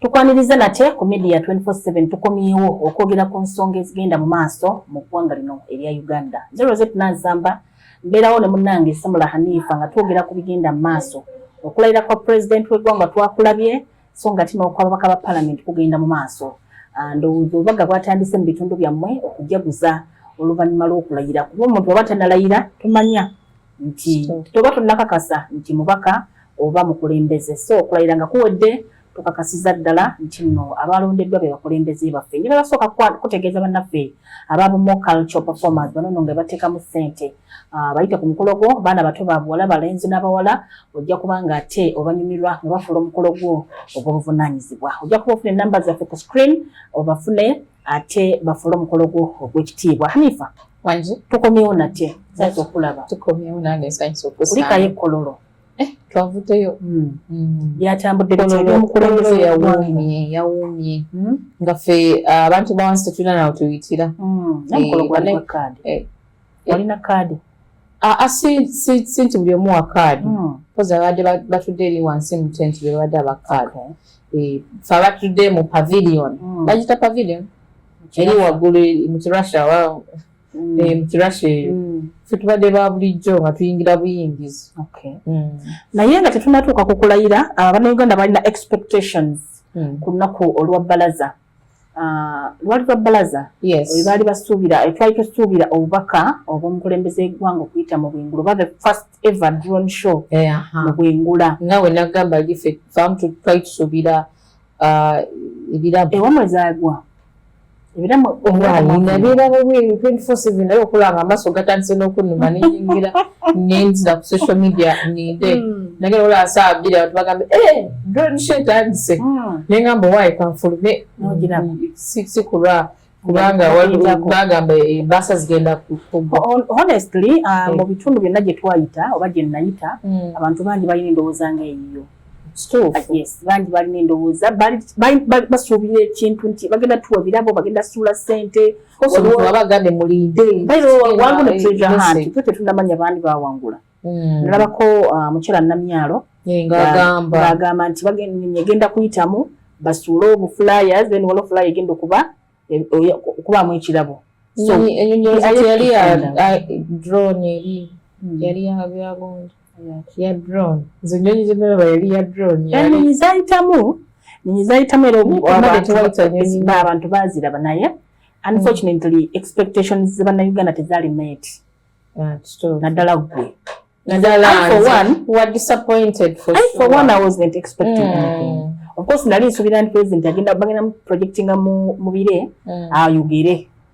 Tukwaniriza nate ku Media 24/7 tukomyewo okwogera ku nsonga ezigenda mu maaso mu ggwanga lino erya Uganda. Zero zetu Nansamba mbeerawo ne munnange Samula Hanifa nga twogera ku bigenda mu maaso. Okulayira kwa pulezidenti w'eggwanga twakulabye so nga tina okw'ababaka ba palamenti kugenda mu maaso. Ah, ndowooza obubaga bwatandise mu bitundu byammwe okujaguza oluvannyuma lw'okulayira kuba omuntu aba tanalayira tumanya nti toba tunakakasa nti mubaka oba mukulembeze so okulayira nga kuwedde tukakasiza ddala nti no abalondeddwa be bakulembeze baffe nyo bebasooka kutegeeza bannaffe ababumo cultural performers banono nga bateekamu ssente ah, bayite ku mukolo gwo baana bato babuwala balenzi n'abawala ojja kuba nga ate obanyumirwa nga bafuula omukolo gwo ogw'obuvunaanyizibwa ojja kuba ofuna enamba zaffe ku screen obafune ate bafuule omukolo gwo ogw'ekitiibwa hanifa wangi tukomyewo nate nsanyisa okulaba tukomyewo nange nsanyisa okusa kulikayo ekkololo eh, twavudeyo hmm. hmm. byatambudde bityaomukulembeze yawuumye yawuumye hmm? nga ffe abantu bawansi tetulina nawe tuyitira eh, yalina kaadi aa si si si nti buli omu wa kaadi hmm. kozi abadde batudde eri wansi mu tent be babadde aba kaadi eh, fe abatudde mu pavilion hmm. bagita pavilion eri waggulu mu kirussia hmm. eh, mu kirussia eyo fe tubadde ba bulijjo nga tuyingira buyingizi naye nga tetunatuuka ku kulayira abanauganda balina expectations ku lunaku olwa balaza Ah, lwali lwa bbalaza webaali basuubira eh, twali tusuubira obubaka obwomukulembeze egwanga okuyita mu bwengula oba the first ever dron show eh, mu bwengula nga wenagamba gife famu twali tusuubira ah, ebirabo ewamwe zagwa ebirabo ebirabo bweru 24 naye okulanga amaaso gatandise n'okunuma neyingira ngenzi na ku social media ninde hmm. nage ola asaa bile watu bagambe eh drone shit andise hmm. nenga mbo wai kwa mfulu me nojina hmm. si si kura kubanga wali bagamba e eh, basa zigenda ku honestly uh, ah, hey. mu bitundu byonna gye twayita oba gye nayita mm. abantu bangi balina endowooza nga eyiyo ah, yes bangi balina endowooza basuubira ekintu nti bagenda tuwa birabo bagenda suula sente tetunamanya bandi bawangula hmm. nalabako uh, mukyala namyalo ngagamba nti egenda kuyitamu basuule obufulaya then wala ofulaya egenda okuba e, okubamu ekirabo so, ya drone nze nyonyi zenalaba yali ya drone enyonyi zayitamu nyonyi zayitamu era abantu baziraba naye unfortunately mm. expectations zebannauganda tezaali met ah, naddala gwe nali nsuubira nti president agenda bagenda projectinga mu bire mm. ayogere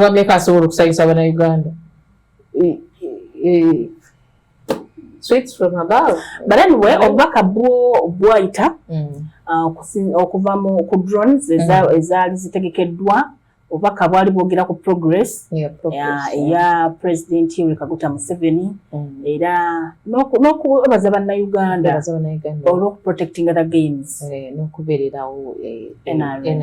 wameka asobola okusanyusa bana Uganda sweets from above but anyway mm. obubaka bwo bwayita mm. uh, okuva mu ku drones mm. ezaali zitegekeddwa obubaka bwali bwogera ku progress eya president yoweri kaguta museveni era n'okwebaza bannayuganda olwokuprotectinga the games eh, n'okubeererawo eh, nrm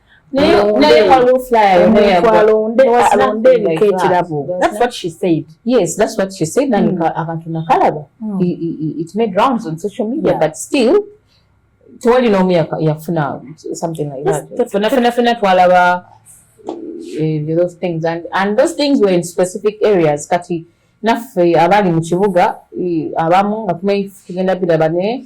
akantu nakalaba tewali n'omu yafuna something like that fena fena fena twalaba eh, those things and, and those things were in specific areas kati naffe abali mu kibuga eh, abamu nga tumanyi tugenda biraba naye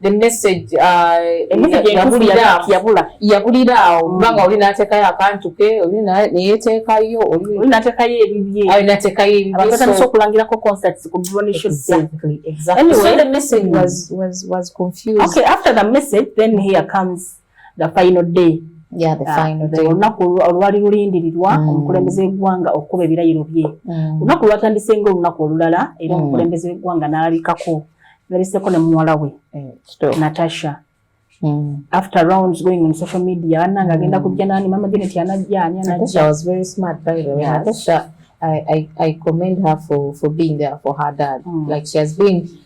the message yabulira awo kubanga oli natekayo akantu ke oli neyetekayo olinatekayo ebibyeyinatekayoatandisa okulangirako concerts ku message was, was, was confused. Okay, after the message, then here comes the final day olunaku ah, olwali lulindirirwa mm. omukulembeze w'eggwanga okukuba ebirayiro bye mm. olunaku lwatandise nga olunaku olulala era mm. omukulembeze w'eggwanga n'alabikako nalabiseko ne muwala we eh, natasha Mm. After rounds going on social media, ana mm. agenda kujja nani mama Janet anajja ani anajja. Natasha was very smart by the way. Yes. Natasha I, I, I commend her for, for being there for her dad. Mm. Like she has been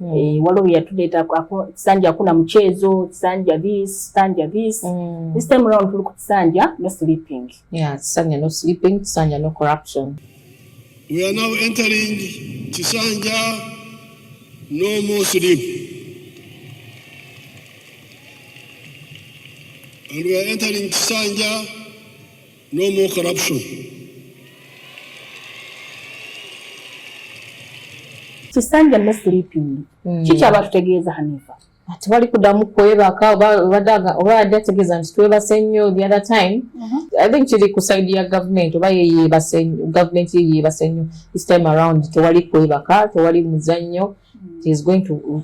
Mm. E, waliwo yatuleeta kisanja akuna mukyezo kisanja this kisanja this mm. this time round tuli ku kisanja no sleeping yeah, kisanja no sleeping kisanja no corruption we are now entering kisanja no more sleep and we are entering kisanja No more corruption. Kisanja no sleeping. Mm. Chicha watu tegeza Hanifa. Ati wali kudamu kweba ka wadaga oba adi ategeza nti tweba senyo the other time. Uh mm-hmm. -huh. I think chili kusaidi ya government oba ye yeba senyo government ye yeba senyo this time around te wali kweba ka te wali muzanyo she is going to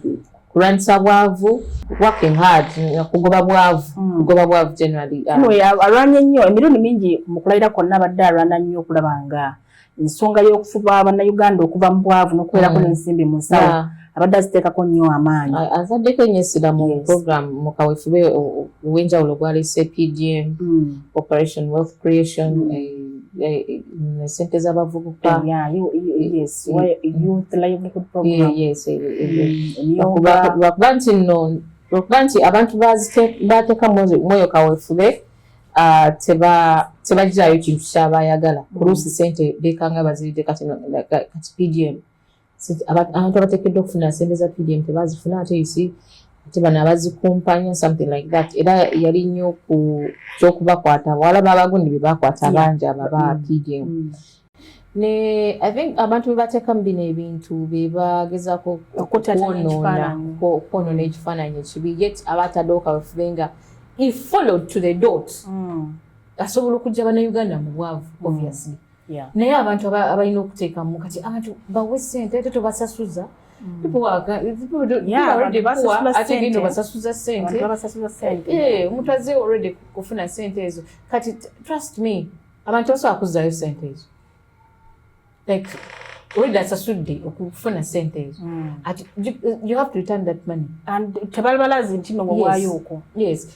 kulwanyisa bwavu working hard kugoba bwavu hmm. kugoba bwavu generally um, alwanye nnyo emirundi mingi mu kulayira kwonna abadde alwana nnyo okulaba nga ensonga y'okufuba bannayuganda okuva mu bwavu n'okubeerako hmm. n'ensimbi mu nsawo abadde aziteekako nnyo amaanyi azaddeko ennyo essira mu program mu kawefube ow'enjawulo gwalese pdm hmm. operation wealth creation eh, Eh, eh, mm, sente z'abavubuka lwakuba nti no lwakuba nti abantu bateeka mwoyo kawefube ah, tebagirayo kintu kyabayagala kuluusi mm. sente bekanga baziride kati pdm abantu abatekeddwa okufuna sente za pdm tebazifuna ate isi ate bano abazikumpanya something like that era yali nnyo ku kyokubakwata wala babagundi bebakwata abangi abo aba mm. pdm mm. ne i think abantu bebatekamu bino ebintu bebagezako okwonona ekifaananyi ekibi yet abatadooka bafube nga he followed to the dot mm. asobola okujja banauganda mu bwavu obviously naye abantu abalina okuteekamu kati abantu bawe sente ate tobasasuza basasuza senteomutaze already kufuna sente ezo kati trust me abantu basobola kuzzayo sente ezo like olida asasudde okufuna sente ezo mm. ati you have to return that money and tebalibalazi nti nowawaayo okwo yes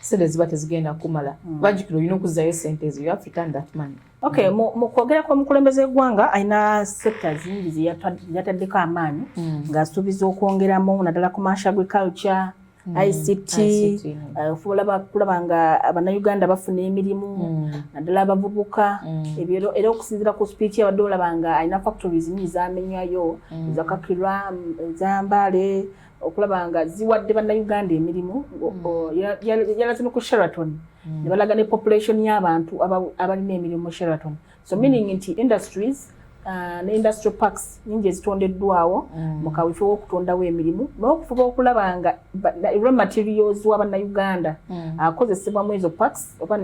sente ziba tezigenda kumala mm. bajukira olina okuzzayo sente ezo you have to return that money okay mm. mu kwogera kw'omukulembeze w'eggwanga alina sekita zingi zeyataddeko amaanyi mm. ng'asuubiza okwongeramu naddala commercial agriculture mm. ict uh, ofuula kulaba nga bannayuganda bafuna emirimu naddala abavubuka era okusinzira ku speech abadde olaba nga alina factories nyingi zamenyayo ezakakirwa ezambaale okulaba nga ziwadde bannayuganda emirimu hmm. yalaze ne ku sheraton hmm. ne balaga ne population y'abantu abalina emirimu mu sheraton so meaning nti industries uh, ne industrial parks nyingi ezitondeddwawo mu kawifo w'okutondawo emirimu n'okufuba okulaba nga raw materials wa bannayuganda akozesebwa mu ezo parks oba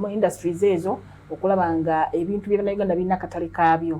mu industries ezo okulaba nga ebintu bya bannayuganda birina akatale kaabyo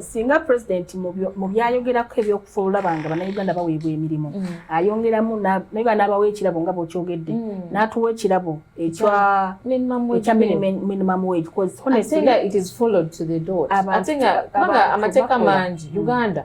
singa president mu byayogerako ebyokufulula banga banauganda baweebwa emirimu mm. ayongeramu naye banaabawo ekirabo nga bwokyogedde mm. n'atuwa ekirabo ekya minimum wage amateeka mangi mm. uganda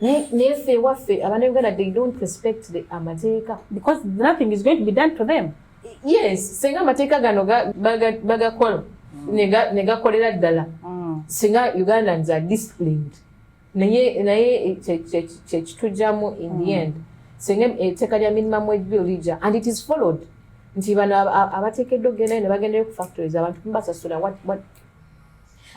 naye ffe ewaffe abana uganda they don't respect the amateeka because nothing is going to be done to them yes singa amateeka gano bagakola mm. negakolera ddala mm. singa ugandans are disciplined naye naye kyekitujjamu in the mm. end singa etteeka lya minimum wage bill lija and it is followed nti bano abateekeddwa okugenda ne bagendayo ku factories abantu mubasasula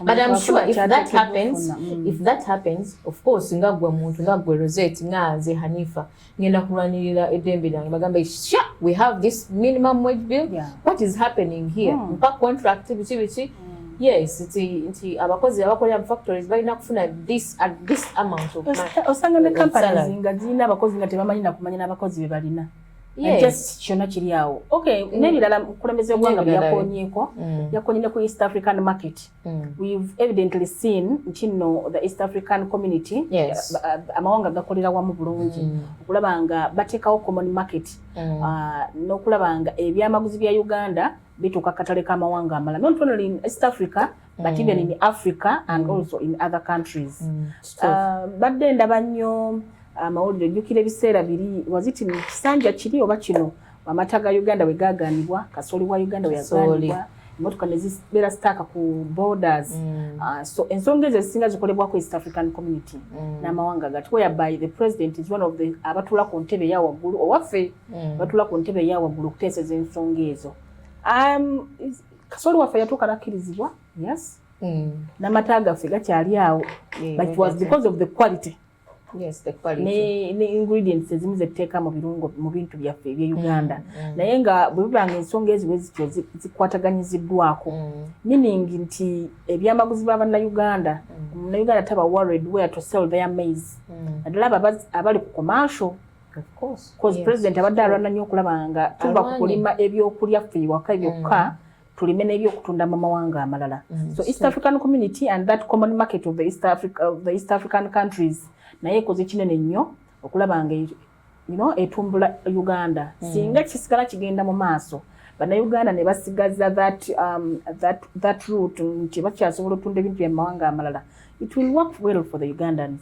but I'm sure if that happens mm. if that happens of course nga gwe muntu nga gwe Rosette nga nze Hanifa ngenda kulwanirira edembe lyange bagamba sha we have this minimum wage bill yeah. what is happening here mm. mpa contract biki biki mm. yes nti nti abakozi abakolera mu factories balina kufuna this at this amount of money osanga ne companies nga zirina abakozi nga tebamanyi nakumanya n'abakozi be balina just kyona kiri awo okay mm. nebirala mukulembeze gwanga byakonyeko mm. yakonye ne ku east african market mm. we've evidently seen nti no the east african community yes. uh, uh amawanga gakolera wamu bulungi mm. okulaba nga batekawo common market mm. uh, nokulaba nga ebyamaguzi bya uganda bituka katale ka mawanga amala not only in east africa but mm. even in Africa and mm. also in other countries mm. uh, badde ndaba nnyo amawulire uh, ojjukira ebiseera biri waziti mu kisanja kiri oba kino amata ga uganda we gaaganibwa kasooli wa uganda weyaganibwa emotoka ne zibeera sitaaka ku borders mm. uh, so ensonga ezo ezisinga zikolebwako east african community mm. n'amawanga gati whereby the president is one of the abatuula ku ntebe eya waggulu owaffe mm. batuula ku ntebe eya waggulu okuteeseza ensonga ezo um, kasooli waffe yatuuka nakkirizibwa yes mm. namata gaffe gakyali awo mm, but it was because of the quality Yes, the quality. Ne, ne ingredients ezimu zetteeka mu birungo mu bintu byaffe ebye mm, uganda mm, mm. naye nga bwe biba nga ensonga eziwe zityo zikwataganyiziddwako mm. meaning nti ebyamaguzi ba bannayuganda mm. munnayuganda taba worried where to sell their maize mm. naddala mm. abo abali ku commercial president abadde alwana nnyo okulaba nga tuva ku kulima ebyokulya ffe ewaka byokka mm. tulime n'ebyokutunda mu mawanga amalala mm, so east african community and that common market of the east, Africa, of the east african countries naye ekoze kinene nnyo okulaba nga you know, etumbula uganda mm. singa kisigala kigenda mu maaso bannayuganda ne basigaza that, um, that, that root nti bakyasobola otunda ebintu byamawanga amalala it will work well for the ugandans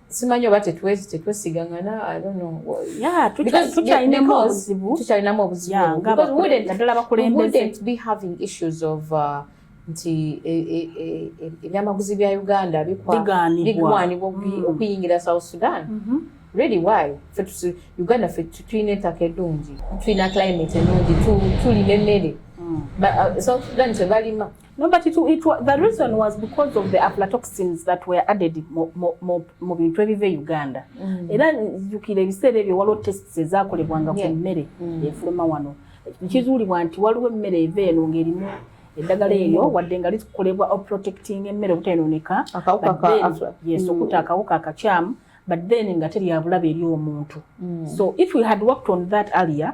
simanyi oba tetwesigangana tukyalinamu obuzibu nti e, e, e, ebyamaguzi bya uganda bigwanibwa mm. okuyingira south sudan mm-hmm. really why uganda fe tulina ettaka edungi tulina climate enungi tulina emmere mm. uh, south sudan tebalima No, but it, it, the reason was because of the aflatoxins that were added mu bintu ebiva e Uganda. Mm. Era jukira ebiseera ebyo waliwo tests ezakolebwanga ku mmere mm. efuluma wano. Kizuulibwa nti waliwo emmere eva eno ng'erimu eddagala eryo mm. wadde nga likolebwa oprotecting emmere obutayonooneka yes mm. okuta akawuka akakyamu but then nga teryabulabe eri omuntu mm. so if we had worked on that earlier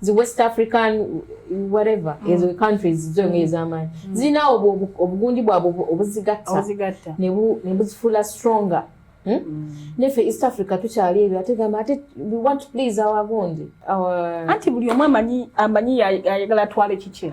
zi west african whatever mm. ezo countries zo mm. ezamanyi mm. zina obu obugundi bwa obuzigatta nebu nebuzifula stronger hmm? mm. nefe east africa tukyali ebyo ate gamba ate we want to please our gundi our anti buli omu amanyi amanyi ayagala twale kiki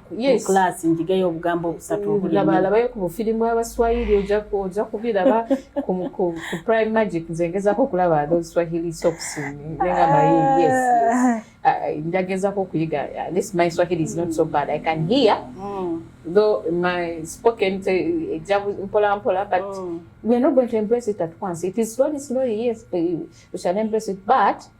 yes. class njigeyo obugambo obusatu mm, obulabalabayo ku bufirimu abaswahili oja kubiraba ku prime magic nze ngezako okulaba those swahili sops nenga mayi yes ah. ah, njagezako okuyiga uh, this my swahili is not so bad i can hear mm. though my spoken eja mpola mpola but mm. we are not going to embrace it at once it is slowly slowly yes we shall embrace it but mm.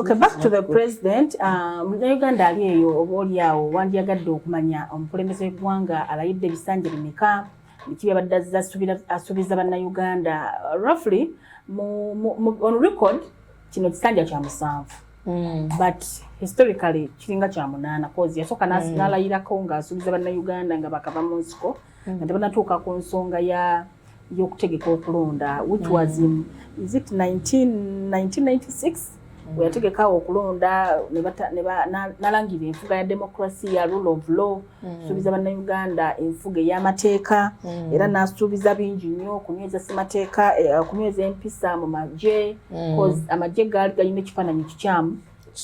Okay, back to the president uh, munauganda ali eyo oba oli awo wandyagadde okumanya omukulembeze w'eggwanga alayidde ebisanja bimeka biki byabadde azza asuubiza bannayuganda roughly on record kino kisanja kya musanvu mm. but historically kiringa kya munaana cause yasooka mm. nalayirako ng'asuubiza bannayuganda nga bakava mu nsiko mm. nga tebanatuuka ku nsonga ya y'okutegeka okulonda which mm. was in is it 19, 1996 mm. weyategeka okulonda nalangira enfuga ya demokrasiya rule of law mm. suubiza bannayuganda enfuga ey'amateeka mm. era nasuubiza bingi nnyo okunyweza semateeka eh, okunyweza empisa mu magye mm. amagye gaali galina ekifaananyi kikyamu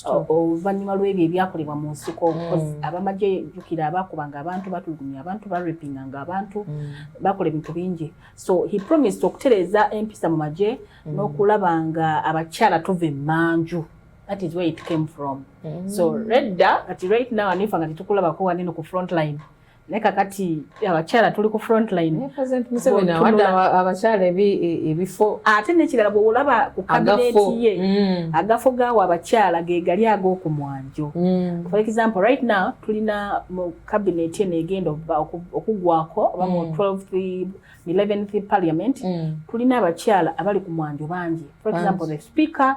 oluvannyuma lw'ebyo ebyakolebwa mu nsiko mm. abamagye jukira abaakubanga abantu batulugunya abantu barepinga nga abantu mm. bakola ebintu bingi so he promised okutereeza empisa mu magye mm. n'okulaba nga abakyala tuva emmanju that is where it came from so redda kati right now anifa nga tetukulabako waneno ku front line naye kakati abakyala tuli ku frontline abakyala ebifo ate nekirala bwewolaba ku kabineti ye mm. agafo gawo abakyala gegali ag'oku mwanjo mm. for example right now tulina mu kabineti eno egenda okugwako oba mu 12 mm. 11th parliament tulina abakyala abali ku mwanjo bangi for example the speaker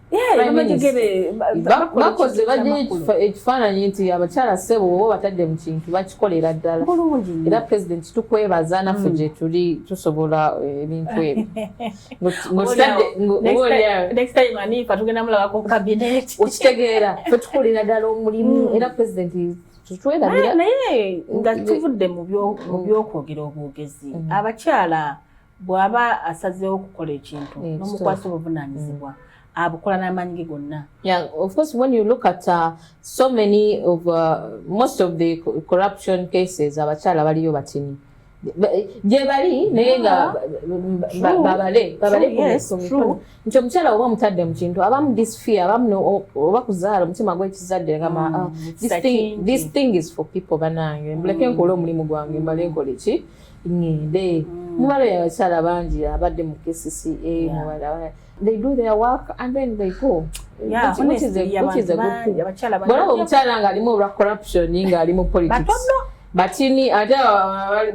bakoze bajja ekifaananyi nti abakyala ssebo oba batadde mu kintu bakikolera ddala era pulezidenti tukwebaza naffe mm. gyetuli tusobola eh, ebintu ebyookitegeera fe tukolera ddala omulimu mm. era pulezidenti tutwerabira naye nga tuvudde mu byokwogera obwogezi mm. abakyala bw'aba asazeewo okukola ekintu mm, n'omukwasa obuvunaanyizibwa mm. abukola n'amaanyi ge gonna yeah of course when you look at uh, so many of uh, most of the corruption cases abakyala baliyo batini gye bali naye nga babale babale nti omukyala oba omutadde mu kintu abamu this fear abamu oba kuzaala omutima gwekizadde ngama mm, ah, this thing is for people banange mbuleke mm. nkola omulimu gwange mbale nkoleki ngende mm. muwala oyo abakyala bangi abadde mu kcca muwala they do their work and then they go bwolaba omukyala ng'alimu olwa corruption ng'ali mu politics batini ate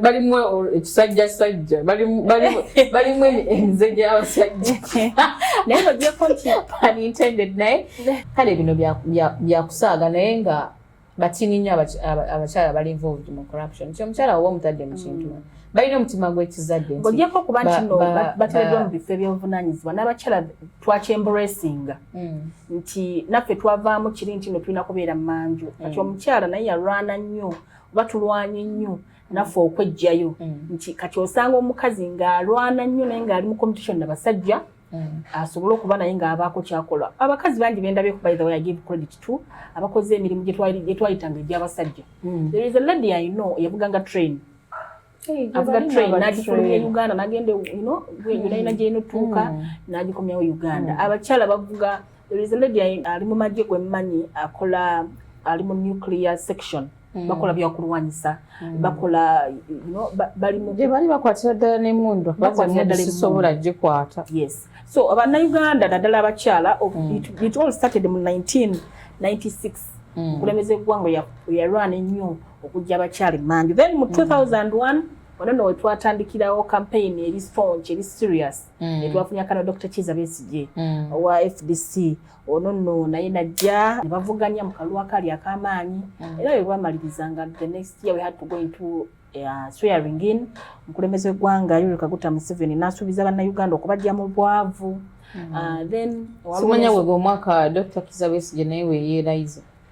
balimu ekisajja sajja balimu enze gy'abasajja naye bagyeko nti unintended naye kale bino byakusaaga naye nga bakiinyi nnyo abakyala bali involved mu corruption nti omukyala woba omutadde mu kintu mm. balina omutima gw'ekizadde ng'ogyeko okuba nti no bateereddwa mu bifo eby'obuvunaanyizibwa n'abakyala twakyemburesinga mm. nti naffe twavaamu kiri nti no tulina kubeera mu manju mm. kati omukyala naye yalwana nnyo oba tulwanye nnyo naffe okwejjayo nti kati osanga omukazi ng'alwana nnyo naye ng'ali mu competition na basajja Mm. asobole okuba naye ng'abaako kyakola abakazi bangi bendabye by the way i give credit to abakoze emirimu gyetwayitanga egy'abasajja mm. there is a lady i know yavuganga train avuga train nagifulumya e uganda nagenda ino yonayina mm. gyenotuuka nagikomyawo uganda abakyala bavuga there is a lady ali mu magye gwe mmanyi akola ali mu nuclear section mm. Mm. bakola byakulwanyisa mm. bakola gyebali bakwatira ddala nemundu sobola gikwata yes so abanauganda naddala abakyala mm. it all started mu 1996 okulembeza eggwanga yalwana ennyo okujja abakyala emanju then mu 2001 wano no wetwatandikirawo campaign eri staunch eri serious etwafunya kana dr kiza besigye owa fdc ono nno naye najja ne bavuganya mu kalulu akali ak'amaanyi mm. era bwe bwamaliriza nga the next year we had to go into uh, swearing in omukulembeze w'eggwanga yoweri kaguta museveni n'asuubiza bannayuganda okubajja mu bwavu mm. uh, then simanya wega omwaka dr kiza besigye naye weyeerayiza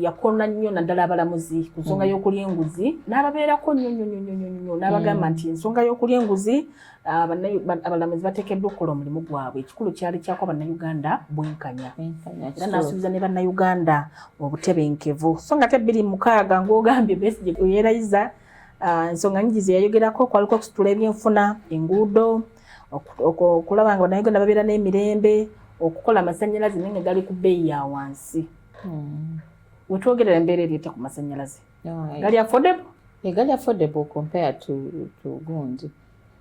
yakona nnyo naddala abalamuzi ku nsonga mm. y'okulya enguzi n'ababeerako nnyo nnyo nnyo nnyo nnyo n'abagamba mm. nti ensonga y'okulya enguzi ah, abalamuzi bateekeddwa okukola omulimu gwabwe ekikulu kyali kyako bannayuganda bwenkanya era n'asuubiza ne bannayuganda obutebenkevu so nga te bbiri mukaaga ng'ogambye besigye yeerayiza ah, ensonga nyingi ze yayogerako kwaliko okusitula ebyenfuna enguudo okulaba nga bannayuganda babeera n'emirembe okukola amasannyalaze naye nga gali ku bbeeyi ya wansi hmm. wetwogerera embeera ereeta ku masannyalaze gali affordable eh, gali affordable compare to, to gundi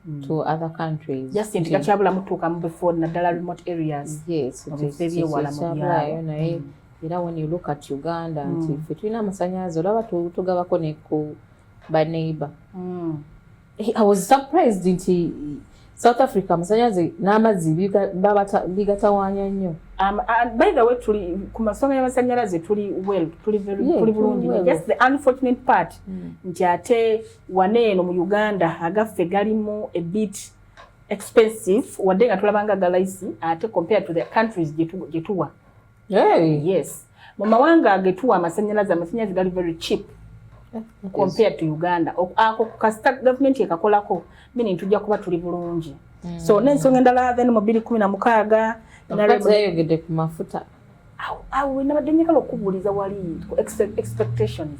hmm. to other countries just nti gakyabulamu tuuka mu bifo naddala remote areas mubifo ebyewala mu byalo naye hmm. era when you look at uganda nti fe tulina amasannyalaze olaba tugabako ne ku baneighbor I was surprised nti South Africa amasanyalaze n'amazzi bigatawanya nnyo. Um, uh, by the way tuli ku masonga y'amasanyalaze tuli well tuli very yeah, tuli bulungi well. just the unfortunate part mm. nti ate wane eno mu Uganda agaffe galimu a bit expensive wadde nga tulabanga galaisi ate compared to the countries gye tuwa Hey. Yes. Mu mawanga agetuwa amasanyalaze amasanyalaze gali very cheap eh, compared yes. to Uganda. Ako kasita government ekakolako mini ntujja kuba tuli bulungi. Mm. So n'ensonga endala then mu 2016 nalagidde ku mafuta. Awo awo nabadde njagala okubuuliza wali expectations.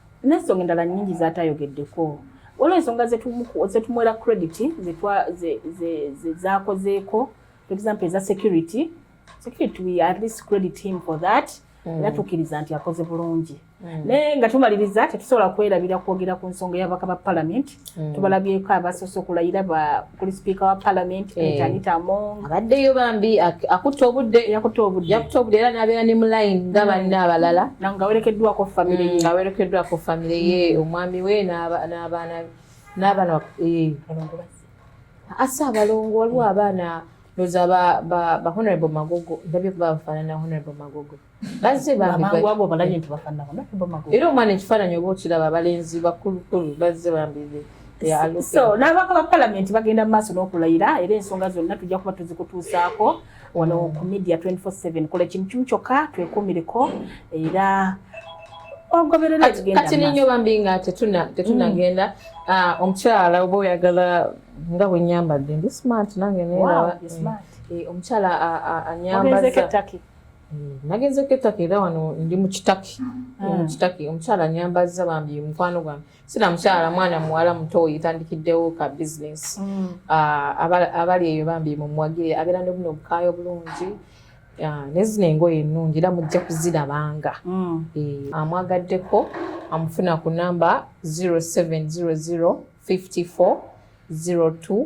n'ensonga endala nnyingi zaatayogeddeko waliwo ensonga zetumwera credit zakozeeko for example eza security security we at least credit him for that mm. era tukkiriza nti akoze bulungi mm. naye nga tumaliriza tetusobola kwerabira kwogera ku nsonga y'ababaka ba palamenti Mm. tubalabyeko abasoose okulayira kuli sipiika wa palamenti eh. etanita among abaddeyo bambi akutta obudde yakutta obudde yakutta obudde era nabeera ne mulayini nga mm. banne abalala nga werekeddwako famire ye mm, nga werekeddwako famire ye omwami we n'abaana n'abaana eh. asa abalongo waliwo abaana loza ba honorable magogo ndabye kuba bafaanana honorable magogo bazze bambiamangu balabye nti bafanako naku bamagu era omwana ekifaananyi oba okiraba abalenzi bakulukulu bazze bambize so n'ababaka ba palamenti bagenda mu maaso n'okulayira era ensonga zonna tujja kuba tuzikutuusaako wano ku media 24/7 kola ekintu kimu kyokka twekuumireko era kati ninyo bambi nga tetunagenda mm. ah, omukyala oba oyagala nga bwenyambadde ndi smart nange nerawa eh, omukyala anyambaza nagenze ku ettaka era wano ndi mu kitaki ah. mu kitaki omukyala nyambazza bambi mukwano gwange sina mukyala mwana muwala muto yetandikiddewo ka bizinesi mm. ah, abali eyo bambi mumuwagire abeera ne buno obukaayo bulungi ah, nezino engoye ennungi era mujja kuzirabanga mm. eh, amwagaddeko amufuna ku namba 0700 54 02